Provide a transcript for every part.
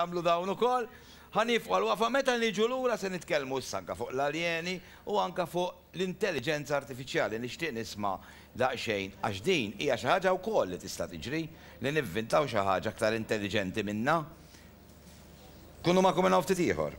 Nagħmlu dawn ukoll. Ħa nieqfu għal waqfa, meta niġu lura se nitkellmu issa anke fuq l-aljeni u anke fuq l-intelliġenza artifiċjali. Nixtieq nisma' daqsxejn għax din hija xi ħaġa wkoll li tista' tiġri, li nivvintaw xi ħaġa aktar intelliġenti minnha. Kunu magħkom minn hawn ftit ieħor.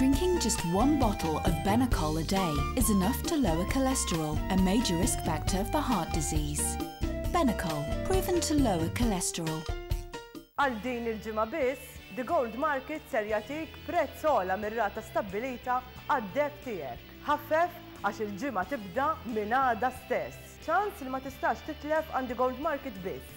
Drinking just one bottle of Benecol a day is enough to lower cholesterol, a major risk factor for heart disease. Benecol, proven to lower cholesterol. Għal din il-ġimgħa biss, The Gold Market ser jagħtik prezz ogħla mir-rata stabbilita għad-deb tiegħek. Ħaffef għax il-ġimgħa tibda minn għada stess. Ċans li ma tistax titlef għand The Gold Market biss.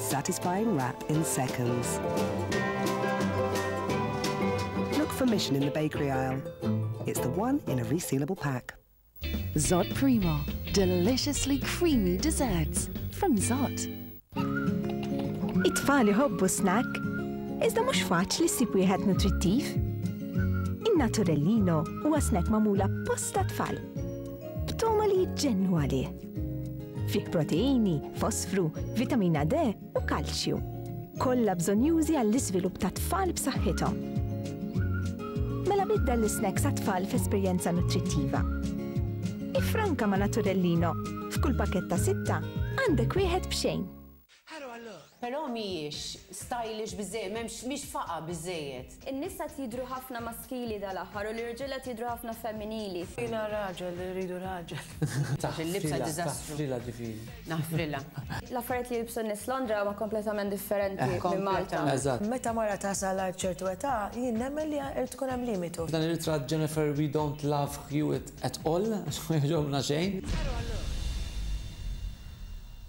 Satisfying wrap in seconds. Look for Mission in the bakery aisle. It's the one in a resealable pack. Zott Primo, deliciously creamy desserts from Zott. It-tfal iħobbu snack, iżda mhux faċli ssib wieħed nutrittiv. In-Naturellino huwa snack magħmul apposta tfal, b'togħma li jġennu għalih. Fih proteini, fosfru, vitamina D u kalċju. Kollha bżonjużi għall-iżvilupp tat-tfal b'saħħithom. Mela biddel l-isnacks għat-tfal f'esperjenza nutrittiva. Iffranka ma' Naturellino, f'kull pakkett ta' sitta għandek wieħed b'xejn. Hello hello! Però mhijiex stylish biżżejjed, m'hemmx, mhix faqgħa biżżejjed. In-nisa qed jidhru ħafna maskili dal-aħħar u l-irġiel qed jidhru ħafna femminili. Jiena raġel, irridu raġel. Taf il-libsa diżastru. Taħfrilha ġifieri. Naħfrilha. L-affarijiet li jilbsu n-nies Londra huma kompletament differenti minn Malta. Eżatt. Meta mara tasal għal ċertu età, jien nemmen li irid ikun hemm limitu. F'dan ir-ritratt Jennifer we don't love Hewitt at all għax ma jogħġobna xejn. Hello hello!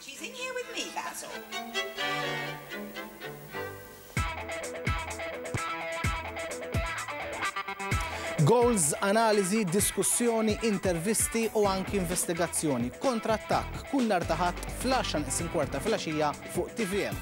She's in here with me, Basil. Goals, analiżi, diskussjoni, intervisti u anki investigazzjoni. Kontrattakk kull nhar ta' Ħadd fl-10 isim kwarta filgħaxija fuq TVM.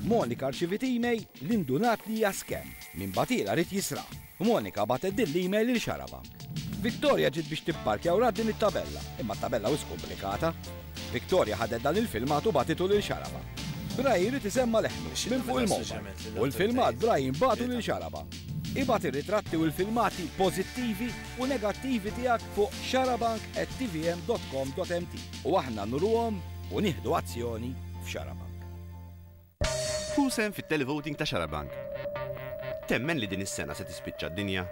Monika rċivit email li ndunat li hija scam minn batila rrit jisra. Monika batet din l-email lil xaraba. Victoria ġiet biex tipparkja u din it-tabella, imma t-tabella wis komplikata. Victoria ħadet dan il-filmat u batitu lil xaraba. Brian rrit isemma leħnu minn fuq il-mowbajl u l-filmat Brian batu lil xaraba. Ibgħat ir-ritratti u l-filmati pożittivi u negattivi tiegħek fuq xarabank@tvm.com.mt u aħna nuruhom u nieħdu azzjoni f'Xarabank. Ħu sehem fit-Televoting ta' Xarabank! Temmen li din is-sena se tispiċċa d-dinja?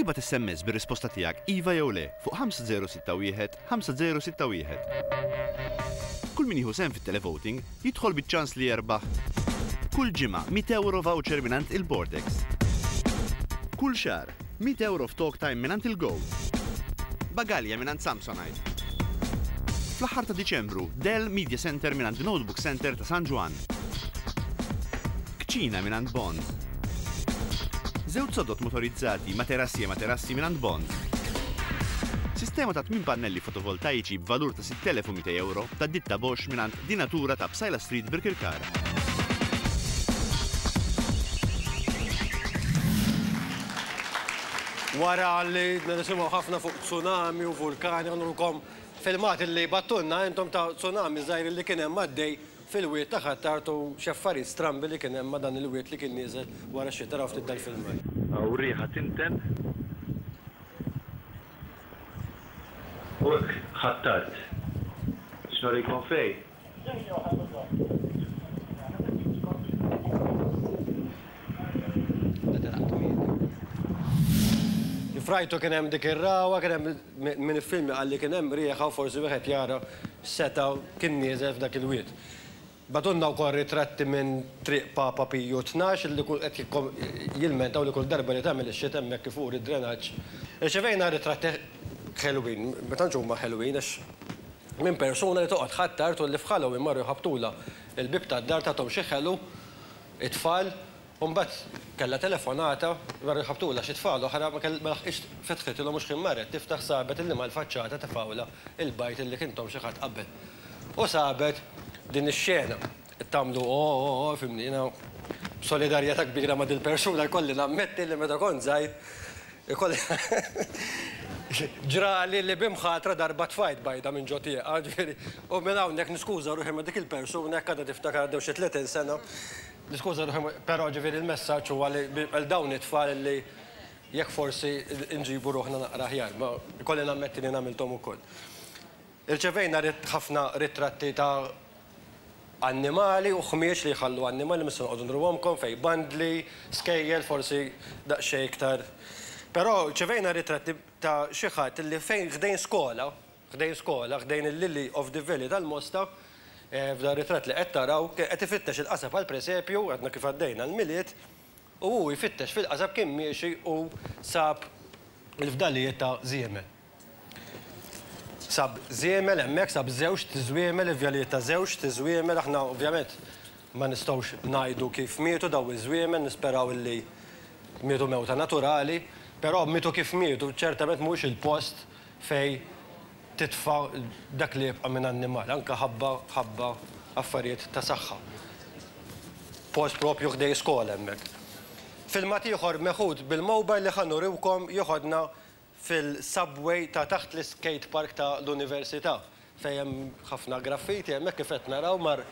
Ibgħat SMS bir-risposta tiegħek iva jew le fuq 5061 5061. Kull min jieħu sehem fit-televoting jidħol biċ-ċans li jerbaħ kull ġimgħa €100 voucher mingħand il-Bordex, kull xahar €100 f'talk time mingħand il-Go, bagalja mingħand Samsonite, fl-aħħar ta' Diċembru Dell Media Center mingħand Notebook Center ta' San Ġwann. Kċina mingħand Bond. Żewġ sodod motorizzati, materassi e materassi mingħand Bond. Sistema ta' tmien pannelli fotovoltaiċi b'valur ta' 6,200 ewro ta' ditta Bosch mingħand Di Natura ta' Psaila Street Birkirkara. Wara li nisimgħu ħafna fuq tsunami u vulkani, għandulkom filmat li battulna intom ta' tsunami żgħir li kien hemm għaddej Fil-wied ta' Ħ'Attard u x'affarijiet strambi li kien hemm ma' dan il-wied li kien nieżel wara x-xita raw ftit dal-filmat. Hawn riħa tinten u hekk Ħ'Attard. X'nurikom fej? Kif rajtu kien hemm dik ir-rawa, kien hemm Min iffilmja qalli kien hemm riħa u forsi wieħed jara seta' kien nieżel f'dak il-wied. Bagħtulna wkoll ritratti minn Triq Papa Piju Tnax li qed jilmentaw li kull darba li tagħmel ix-xita hemmhekk ifur id-drenaġġ. Irċevejna ritratti ħelwin, ma tantx huma ħelwin għax minn persuna li toqgħod Ħ'Attard u li f'Halloween marru jħabbtulha l-bieb tad-dar tagħthom xi ħelu t-tfal. U mbagħad kellha telefonata, veru jħabbtulha xi tfal oħra, ma laħqitx fetħitilhom u xħin marret tiftaħ sabet illi mal-faċċata tefgħulha il-bajd illi kien Tom xi ħadd qabel. U sabet din ix-xena. Tagħmlu ooh, fhimni, jiena b'solidarjetà kbira ma' dil-persuna jkolli nammetti li meta kont żgħir ikolli ġrali li b'imħatra darba tfajt bajda minn ġo tieqa, ġifieri, u minn hawnhekk niskuża ruħi ma' dik il-persuna jekk għadha tiftakar għaddew xi tletin sena. Niskuża ruħi, però ġifieri l-messaġġ huwa li għal dawn it-tfal li jekk forsi nġibu ruħna naqra aħjar, ma jkolli nammetti li jien għamilthom ukoll. Irċevejna ħafna ritratti ta' annimali u ħmieġ li jħallu annimali, mhux se noqogħdu nruhomkom, fejn bandli, skejjel forsi daqsxejn iktar. Però rċevejna ritratti ta' xi ħadd li fejn ħdejn skola, ħdejn skola, ħdejn il-Lily of the Valley tal-Mosta, f'dan ritratt li qed taraw, kien qed ifittex il-qasab għall-presepju, għadna kif għaddejna l-Milied, u hu jfittex fil-qasab kien miexi u sab il-fdalijiet ta' żiemel. Sab żiemel hemmhekk, sab żewġt żwiemel, il-fdalijiet ta' żewġt żwiemel, aħna ovvjament ma nistgħux ngħidu kif mietu dawn iż-żwiemel, nisperaw li mietu mewta naturali, però mietu kif mietu, ċertament mhuwiex il-post, fejn titfa' dak li jibqa' minn annimal, anke ħabba ħabba affarijiet ta' saħħa. Post proprju ħdejn skola hemmhekk. Filmat ieħor meħud bil-mobile li ħa nuriwkom joħodna fil-subway ta' taħt l-iskate park ta' l-Università. fejn hemm ħafna graffiti, hemmhekk kif qed naraw mar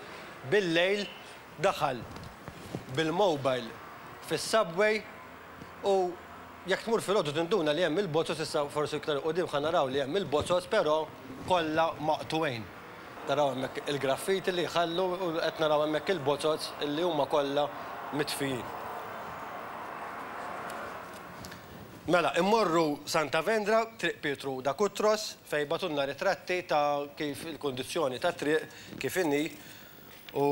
bil-lejl daħal bil-mobile fis-subway u jekk tmur filgħodu tinduna li hemm il-bozos, issa forsi iktar 'il quddiem ħa naraw li hemm il-bozos però kollha maqtugħin. Taraw hemmhekk il-graffiti li jħallu u qed naraw hemmhekk il-bozos li huma kollha mitfijin. Mela, immorru Santa Vendra, Triq Pietru da Cutros, fejn jbagħtulna ritratti ta' kif il-kundizzjoni tat-triq kif inhi u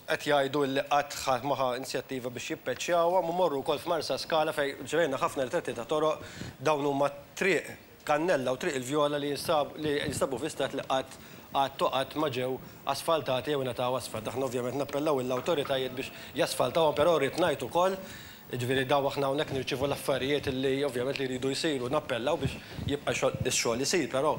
qed jgħidu illi qatt ħadd ma ħa inzjattiva biex jippeċjawhom u mmorru wkoll f'Marsaskala fejn rċevejna ħafna ritratti ta' toroq, dawn huma Triq Kannella u Triq il-Vjola li jinstabu fi stat li qatt qatt u qatt ma ġew asfaltati jew ingħataw asfalt. Aħna ovvjament nappellaw lill-awtoritajiet biex jasfaltawhom però rrid ngħid ukoll Jiġifieri dawn aħna hawnhekk nirċievu l-affarijiet li ovvjament li jridu jsiru, nappellaw biex jibqa' x-xogħol isir, però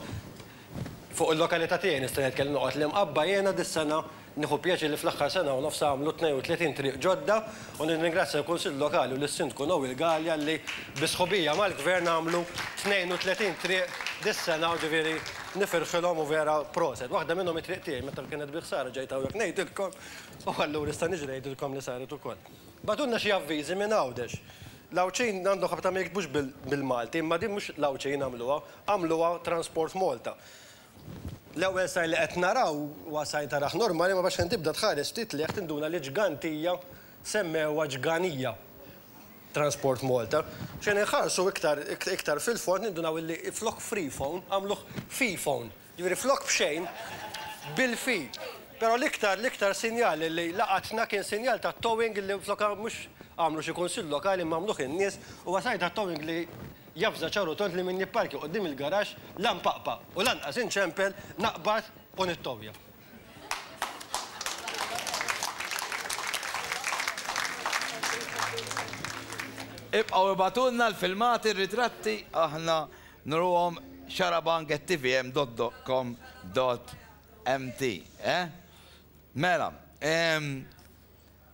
fuq il-lokalità tiegħi nista' ngħid kelli noqgħod l-Imqabba jiena dis-sena nieħu pjaċir li fl-aħħar sena u nofs għamlu 32 triq ġodda u nirringrazzja l-Kunsill Lokali u lis-Sindku Noel Galea li bi sħubija mal-Gvern għamlu 32 triq dis-sena u ġifieri nifirħilhom u vera proset. Waħda minnhom it-triq tiegħi meta kienet bi ħsara ġejt hawnhekk ngħidilkom u allura nista' niġi ngħidilkom li saret ukoll. Bagħtulna xi avviżi minn Għawdex. L-Għawdxin għandhom ħabta ma jiktbux bil-Malti, imma din mhux l-Għawdxin għamluha, għamluha Transport Malta. L-ewwel sajr li qed naraw huwa sajr tarah normali, imma biex fejn tibda tħares ftit 'l leħ tinduna li ġgantija semmewha ġganija Transport Malta. Xejn inħarsu iktar iktar fil-fond nindunaw illi flok freephone għamluh feephone. Jiġifieri flok b'xejn, bil-fid. Però l-iktar, l-iktar sinjal li laqatna kien sinjal ta' towing li flok mhux għamlu xi kunsill lokali imma għamluh in-nies, huwa sar ta' towing li javża ċar u tond li min jipparkja quddiem il-garaxx la npaqpa' u lanqas inċempel, naqbad u nittowja. Ibqgħu ibagħtulna l-filmati, r-ritratti, aħna nruhom xarabank@tvm.com.mt, eh? Mela, ehm,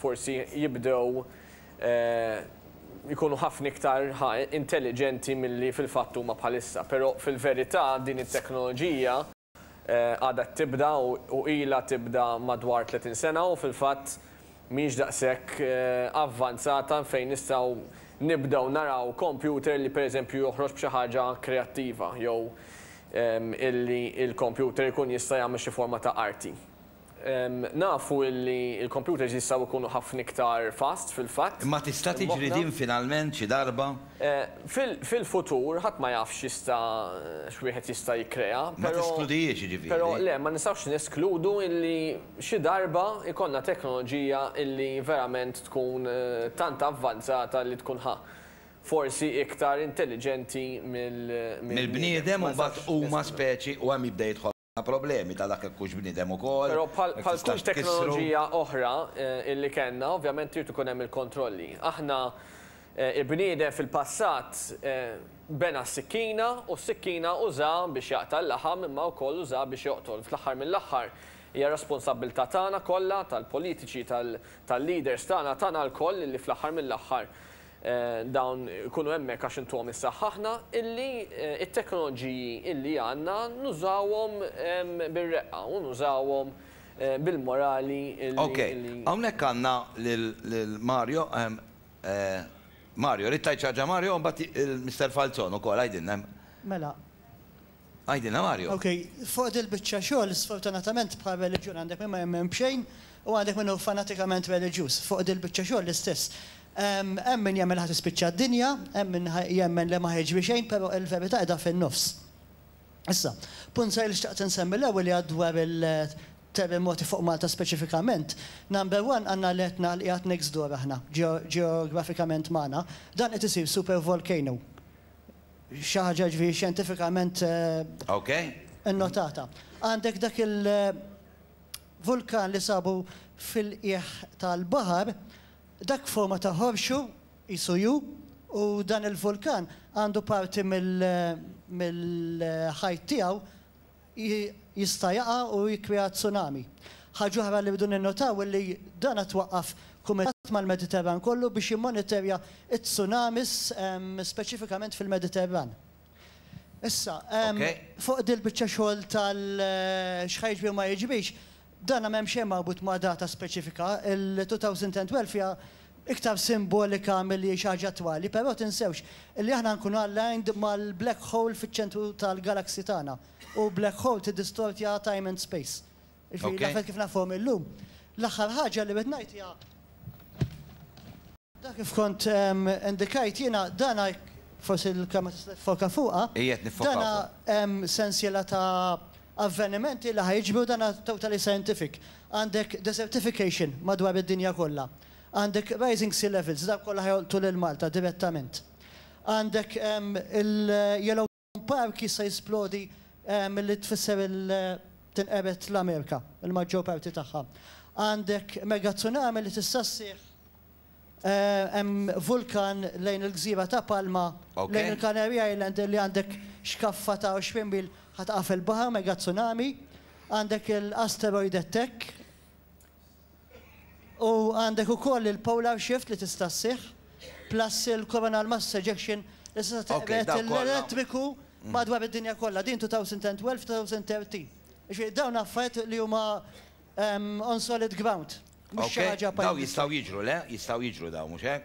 forsi jibdew ikunu ħafna iktar intelliġenti milli fil-fatt huma bħalissa. Però fil-verità din it-teknoloġija għadha qed tibda u ilha tibda madwar 30 sena u fil-fatt mhijiex daqshekk avvanzata fejn nistgħu nibdew naraw kompjuter li pereżempju joħroġ b'xi ħaġa kreattiva jew illi l-kompjuter ikun jista' jagħmel xi forma ta' arti. Nafu li l-kompjuters jistgħu jkunu ħafna iktar fast fil-fatt. Imma tista' tiġri din finalment xi darba? Fil-futur, ħadd ma jaf x'jista' x'wieħed jista' jikkrea, però. Ma teskludihiex, jiġifieri. Però le, ma nistgħux neskludu li xi darba jkollna teknoloġija li verament tkun tant avvanzata li tkun ħa forsi iktar intelliġenti mill-bniedem. Mill-bniedem u mbagħad huma speċi u hemm jibda jidħol. problemi ta' dak jekk hux bniedem ukoll. Però bħal kull teknoloġija oħra li kellna, ovvjament irid ikun hemm il-kontrolli. Aħna, il-bniedem fil-passat bena s-sikkina u s-sikkina użaha biex jaqta' l-laħam imma wkoll użaha biex joqtol. Fl-aħħar mill-aħħar hija responsabbiltà tagħna kollha, tal-politiċi, tal-leaders tagħna, tagħna lkoll li fl-aħħar mill-aħħar Dawn ikunu hemmhekk għax intuhom is-saħħaħna illi t-teknoloġiji illi għandna nużawhom bir-reqqa u nużawhom bil-morali illi illi. Ok, hawnhekk għandna lil Mario, Mario, rrid tgħid xi ħaġa Mario u mbagħad Mister Falzon ukoll, għidilna. Mela, Għidilna Mario. Ok, fuq dil biċċa xogħol sfortunatament bħal reliġjun għandek min ma jemmen b'xejn u għandek min hu fanatikament reliġjuż. Fuq dil biċċa xogħol l-istess. Hemm min jemmen li ħa tispiċċa d-dinja, hemm min jemmen li ma ħa jiġri xejn, però il-verità qiegħda fin-nofs. Issa, punt żgħir li xtaqt insemmi l-ewwel li għad dwar il-terrimoti fuq Malta speċifikament. Number one għandna l-Etna li qiegħed next door aħna, ġeografikament magħna. Dan qed isir supervolcano. Xi ħaġa jiġifieri xjentifikament innotata. Għandek dak il-vulkan li sabu fil-qiegħ tal-baħar, dak f'forma ta' ħorxu, qisu U, u dan il-vulkan għandu parti mill-ħajt tiegħu jista' jaqa' u jikkrea tsunami. Ħaġa oħra li rridu ninnotaw hi li dan qed waqqaf kumitat mal-Mediterran kollu biex jimmonitorja t-tsunamis speċifikament fil-Mediterran. Issa, fuq din il-biċċa xogħol tal-x'ħa jiġri u ma jiġrix, Dan m'hemm xejn marbut ma' data speċifika, il-2012 hija iktar simbolika milli xi ħaġa attwali, però tinsewx li aħna nkunu aligned mal-black hole fiċ-ċentru tal-galaxy tagħna, u black hole tiddistortja time and space. Jiġifieri l-affarijiet kif nafhom illum. L-aħħar ħaġa li rrid ngħid hija. Dak kif kont indikajt jiena, dan forsi l-kelma tista' tiffoka fuqha. Ejja qed niffokaw fuqha. Dan hu sensiela ta' avvenimenti li ħa jiġru, dan totally scientific. Għandek desertification madwar id-dinja kollha. Għandek rising sea levels, dawk kollha ħa jolqtu lil Malta direttament. Għandek il-yellow. Home Park jista' jisplodi milli tfisser tinqered l-Amerika, il-maġġor parti tagħha. Għandek megatsunami li tista' sseħħ, hemm vulkan lejn il-gżira ta' Palma, lejn il-Canary Island li għandek xkaffa ta' 20 mil ħa taqa' fil-baħar, megatsunami. Għandek l-asteroid attack, U għandek ukoll il-polar shift li tista' sseħħ, plus il-coronal mass ejection li tista' teqred l-elettriku madwar id-dinja kollha. Din 2012, 2013. Jiġifieri dawn affarijiet li huma on solid ground, mhux xi ħaġa pajjiżi. Dawn jistgħu jiġru, le? Jistgħu jiġru dawn, mhux hekk?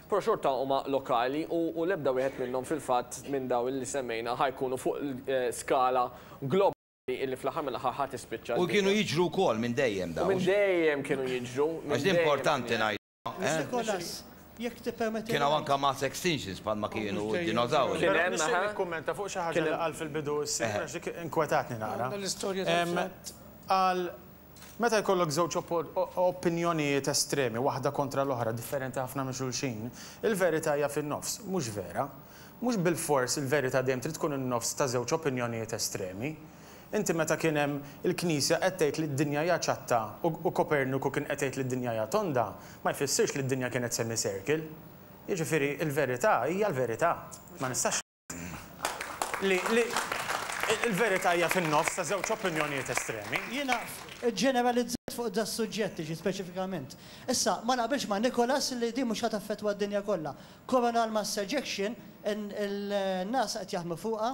Però xorta huma lokali u l-ebda wieħed minnhom fil-fatt minn dawn li semmejna ħa jkunu fuq skala globali illi fl-aħħar mill-aħħar ħa tispiċċa d-dinja. U kienu jiġru wkoll minn dejjem dawn. U minn dejjem kienu jiġru. Għax din importanti ngħiduha, eh. Kien hawn anke mass extinctions bħal ma kienu d-dinozawri. Kien hemm, aha. Nixtieq nikkummenta fuq xi ħaġa li qal fil-bidu s-Sinjur għax dik inkwetatni naqra. Qal Meta jkollok żewġ opinjonijiet estremi, waħda kontra l-oħra, differenti ħafna minn xulxin, il-verità hija fin-nofs, mhux vera. Mhux bilfors il-verità dejjem trid tkun in-nofs ta' żewġ opinjonijiet estremi. Inti meta kien hemm il-Knisja qed tgħid li d-dinja hija ċatta u Koperniku kien qed jgħid li d-dinja hija tonda, ma jfissirx li d-dinja kienet semicircle. Jiġifieri l-verità hija l-verità. Ma nistax. li l-verità hija fin-nofs ta' żewġ opinjonijiet estremi. Jiena ġġeneralizzajt fuq das-suġġett, jiġi speċifikament. Issa, ma naqbilx ma' Nicholas li din mhux ħa taffettwa d-dinja kollha. Coronal mass ejection, in-NASA qed jaħdmu fuqha,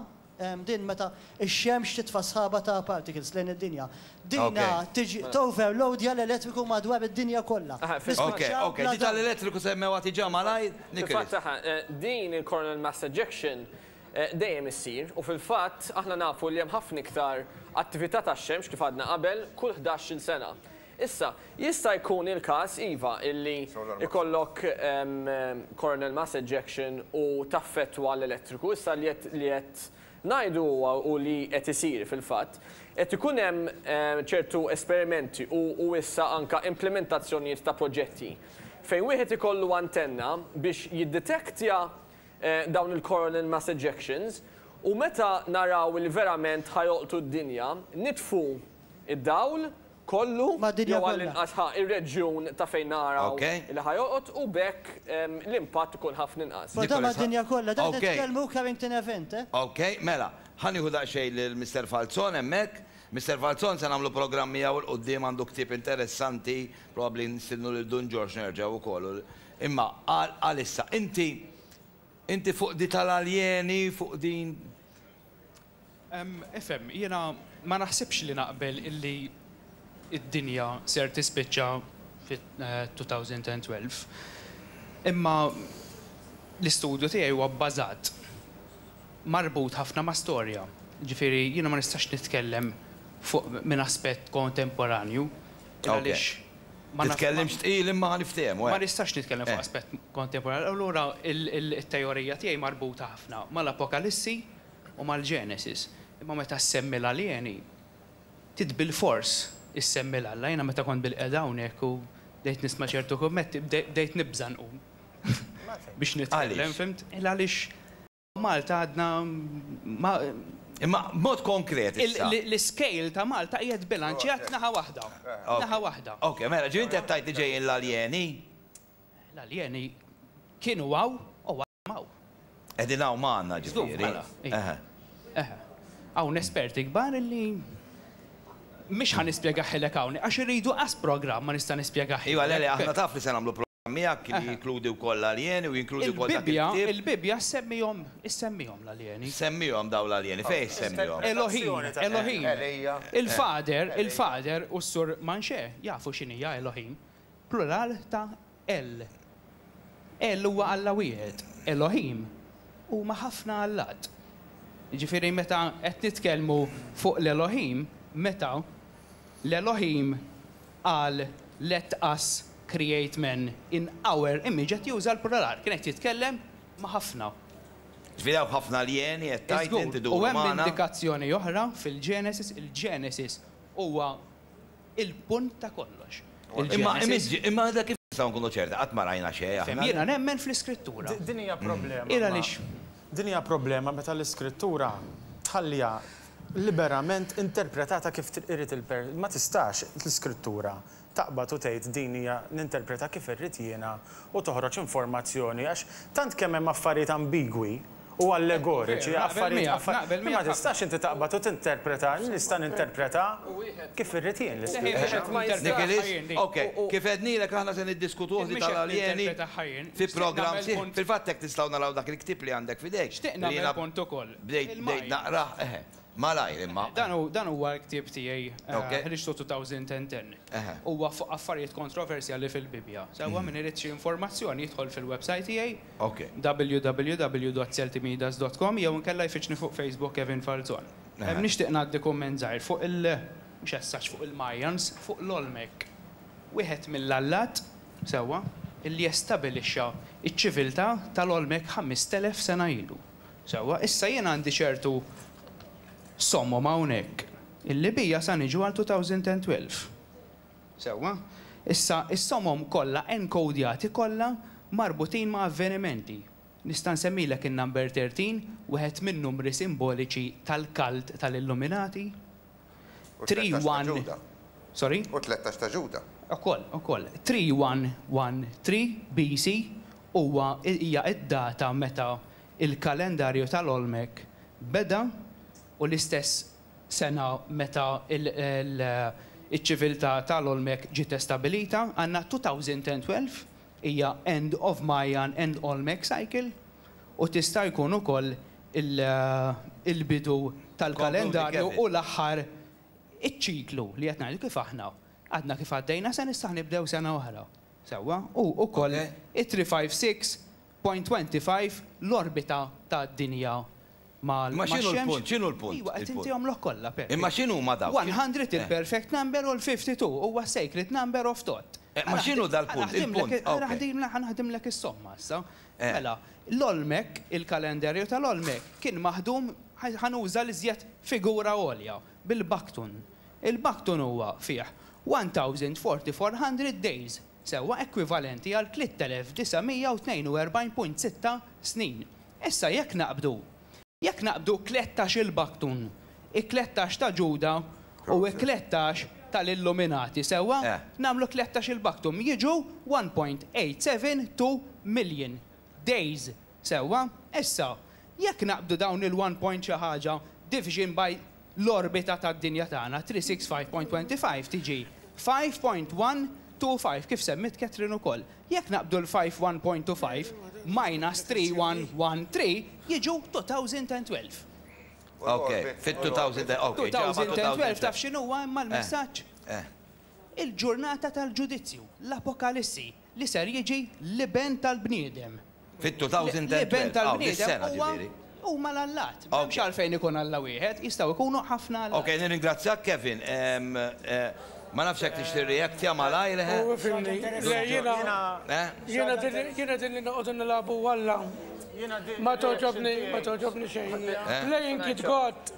din meta Ix-xemx titfa' sħaba ta' particles lejn id-dinja. Dinha tiġi toverloadja l-elettriku madwar id-dinja kollha. Oke, oke, diġà l-elettriku semmewha diġà malajr, Nicholas. Fil-fatt, din il-coronal mass ejection dejjem issir u fil-fatt aħna nafu li hemm ħafna iktar attività tax-xemx, kif għadna qabel, kull ħdax-il sena. Issa, jista' jkun il-każ, iva, illi jkollok coronal mass ejection u taffettwa l-elettriku. Issa li qed ngħidu huwa u li qed isir fil-fatt, qed ikun hemm ċertu esperimenti u issa anke implimentazzjonijiet ta' proġetti fejn wieħed ikollu antenna biex jidditektja dawn il-coronal mass ejections u meta naraw li verament ħa jolqtu d-dinja nitfu id-dawl kollu jew għall-inqas ħa ir-reġjun ta' fejn naraw li ħa jolqot u b'hekk l-impatt ikun ħafna inqas. But da mad-dinja kollha, da qed nitkellmu Carrington Event, eh? Ok, mela, ħa nieħu daqsxejn lil Mister Falzon hemmhekk. Mister Falzon se nagħmlu programm miegħu 'l quddiem għandu ktieb interessanti, probabbli nistiednu lil Dun Ġorġ nerġgħu wkoll. Imma għal issa, inti inti fuq di tal-aljeni, fuq din Ifhem, jiena ma naħsibx li naqbel illi d-dinja ser tispiċċa fit-2012. Imma l-istudju tiegħi huwa bbażat, marbut ħafna ma' storja. Jiġifieri jiena ma nistax nitkellem fuq minn aspett kontemporanju għaliex ma naf. Titkellimx tqil imma ħa niftehmu. Ma nistax nitkellem fuq aspett kontemporanju. Allura t-teorija tiegħi marbuta ħafna mal-Apokalissi u mal-Genesis, imma meta ssemmi l-aljeni, trid bilfors issemmi l-Alla. Jiena meta kont bilqiegħda hawnhekk u bdejt nisma' ċertu kummetti, bdejt nibża' nqum biex nitkellem, fimt? Għaliex? Għaliex Malta għadna ma. Imma b'mod konkret issa. L-iscale ta' Malta qiegħed bilanċjat naħa waħda. Naħa waħda. Ok, mela, ġifieri int qed tgħid li ġejjin l-aljeni? L-aljeni kienu hawn u. hawn. Qegħdin hawn magħna ġifieri. Mela, eħe. Eħe. Hawn esperti kbar li mhix ħa nispjegaħilek hawn għax iridu qas programm ma nista' nispjegaħilek. Iva, le, aħna taf li se nagħmlu programm miegħek li jinkludi wkoll l-aljeni u jinkludi wkoll dak il-ktieb. Il-Bibbja ssemmihom, issemmihom l-aljeni. Semmihom dawn l-aljeni, fejn issemmihom? Elohim, Elohim. Il-Fader, il-Fader u s-Sur Manxè jafu x'inhija Elohim. Plural ta' El. El huwa Alla wieħed. Elohim huma ħafna allat. Jiġifieri meta qed nitkellmu fuq l-Elohim, meta l-Elohim qal let us create man in our image qed juża l-plural, kien qed jitkellem ma' ħafna. Ġifieri hawn ħafna aljeni qed tgħid int iduru magħna? Żgur, u hemm indikazzjoni oħra fil-Genesis, il-Genesis huwa. il-punt ta' kollox. Imma għadha kif nistgħu nkunu ċerti, qatt ma rajna xejn aħna. Jiena nemmen fl-Iskrittura. Din hija problema. Hi għaliex. Din hija problema meta l-Iskrittura tħalliha liberament interpretata kif irid il. Ma tistax l-Iskrittura taqbad u tgħid din hija ninterpretha kif irrid jiena u toħroġ informazzjoni għax tant kemm hemm affarijiet ambigwi, u allegoriċi, affarijiet, affarijiet, imma ma tistax inti taqbad u tinterpreta, nista' ninterpreta kif irrid jien l-ispirtu. Nikilis, ok, kif għednilek aħna se niddiskutuh li tal-aljeni fi programm sieħ, fil-fatt hekk tistgħu naraw dak il-ktieb li għandek f'idejk, li jiena bdejt bdejt naqrah, eħe, malajr imma. Dan huwa l-ktieb tiegħi Ħriġtu 2010, huwa fuq affarijiet kontroversjali fil-Bibbja, sewwa min irid xi informazzjoni jidħol fil-websajt tiegħi, Ok. www.celtimidas.com jew inkella jfittxni fuq Facebook Kevin Falzon. Ehm nixtieq ngħaddi kumment żgħir fuq il mhux as such fuq il-Mayans, fuq l-Olmec. Wieħed mill-allat, sewwa, illi estabilixxa ċ-ċiviltà tal-Olmec ħamist elef sena ilu. Sewwa, issa jien għandi ċertu sommom hawnhekk illi bija sa niġu għal 2012. Sewwa. Issa, is-somom kollha enkodjati kollha marbutin ma' avvenimenti. Nista' nsemmilek in-number 13, wieħed min-numri simboliċi tal-kult tal-Illuminati? U tlettax ta' Ġuda. Sorry? U tlettax ta' Ġuda. Ukoll, ukoll. 3113 BC. huwa, hija d-data meta l-kalendarju tal-Olmec beda u l-istess sena meta l-ċiviltà tal-Olmec ġiet estabilita, għandna 2012, hija end of Mayan and Olmec cycle, u tista' jkun ukoll il-bidu tal-kalendarju u l-aħħar iċ-ċiklu li qed ngħidu kif aħna għadna kif għaddejna se nistgħu nibdew sena oħra. Sewwa? U ukoll it-three five six Point 25, L-orbita tad-dinja mal-Xemx. Imma x'inhu l-punt? X'inhu l-punt? Iwa, qed intihomlok kollha, Pepe. Imma x'inhuma dawk? 100 il-perfect number u l-52 huwa s-sacred number of tot. Imma x'inhu dal-punt? Il-punt, okay. Ħa naħdimlek is-somma issa. Mela, l-Olmec, il-kalendarju tal-Olmec, kien maħdum, ħa nuża l-iżjed figura għolja, bil-Baktun. Il-Baktun huwa fih 1400 days, sewwa ekwivalenti għal 3,942.6 snin. Issa jekk naqbdu, jekk naqbdu tlettax-il baktun, it-tlettax ta' Ġuda u t-tlettax tal-Illuminati, sewwa, nagħmlu tlettax-il baktum, jiġu 1.872 million days Sewwa, issa, jekk naqbdu dawn il-one point xi ħaġa division by l-orbita tad-dinja tagħna, 365.25 tiġi 5.125, kif semmiet Catherine ukoll. Jekk naqbdu l-five one point two five minus three one one three jiġu 2012. Ok, fit-2000, ok, ġiegħ ma' 2012. 2012 taf x'inhuwa imma l-messaġġ? Il-ġurnata tal-ġudizzju, l-Apokalissi. Li ser jiġi l-Iben tal-bniedem. Fit-2012. L-Iben tal-bniedem huwa, huma l-allat. M'hemmx għalfejn ikun Alla wieħed, jistgħu jkunu ħafna allat. Okej, nirringrazzjak Kevin. Ma nafx jekk tixtieq tirreactja malajr, eħe? Hu ifhimni. Le, jiena, jiena din, jiena din li noqogħdu nilagħbu Alla ma togħġobni, ma togħġobni xejn hija. Playing kid God.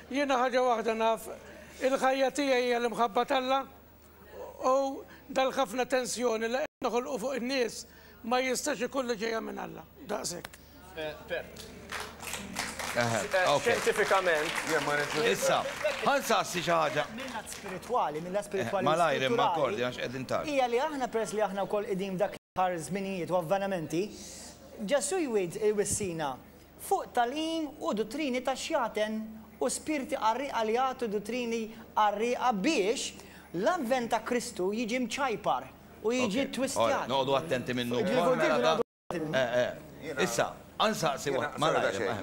Jiena ħaġa waħda naf, il-ħajja tiegħi hija l-imħabba t'Alla. U dal-ħafna tensjoni li qed noħolqu fuq in-nies ma jistax ikun li ġejja minn Alla. Daqshekk. Xjentifikament. Issa, ħa nsaqsi xi ħaġa. Mill-lat spiritwali, mill-lat spiritwali u spirituali, hija li aħna peress li aħna wkoll qegħdin f'dak l-aħħar żminijiet u avvenimenti, Ġesù jwid, iwissina, Fuq tagħlim u duttrini ta' xjaten u spirti qarrieqa li jagħtu duttrini qarrieqa biex l-Avvent ta' Kristu jiġi mċajpar u jiġi ttwistjat.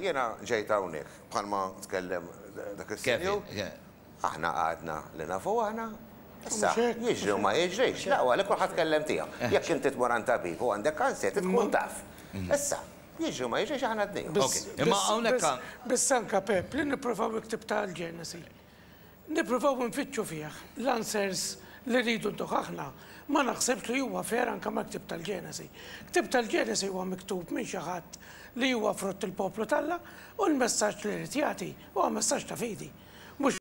Jiena ġejt hawnhekk, bħalma tkellem dak is-sinjur, Aħna għadna li nafu aħna. Issa, jiġri u ma jiġrix, la, huwa li kulħadd kellem tiegħu. Jekk inti tmur għand tabib u għandek kanser, trid tkun taf. Issa, jiġri u ma jiġrix aħna għadniha. Okej, imma hawnhekk għan. Biss anke, Pepp, li nippruvaw il-ktieb ta' l-Ġenesi, nippruvaw infittxu fih l-answers li rridu ntuh aħna, ma naħsibx li huwa fair anke mal-ktieb tal-Ġenesi. Ktieb tal-Ġenesi huwa miktub minn xi ħadd li huwa frutt il-poplu t'Alla u l-messaġġ li jrid jagħti huwa messaġġ ta' fidi, mhux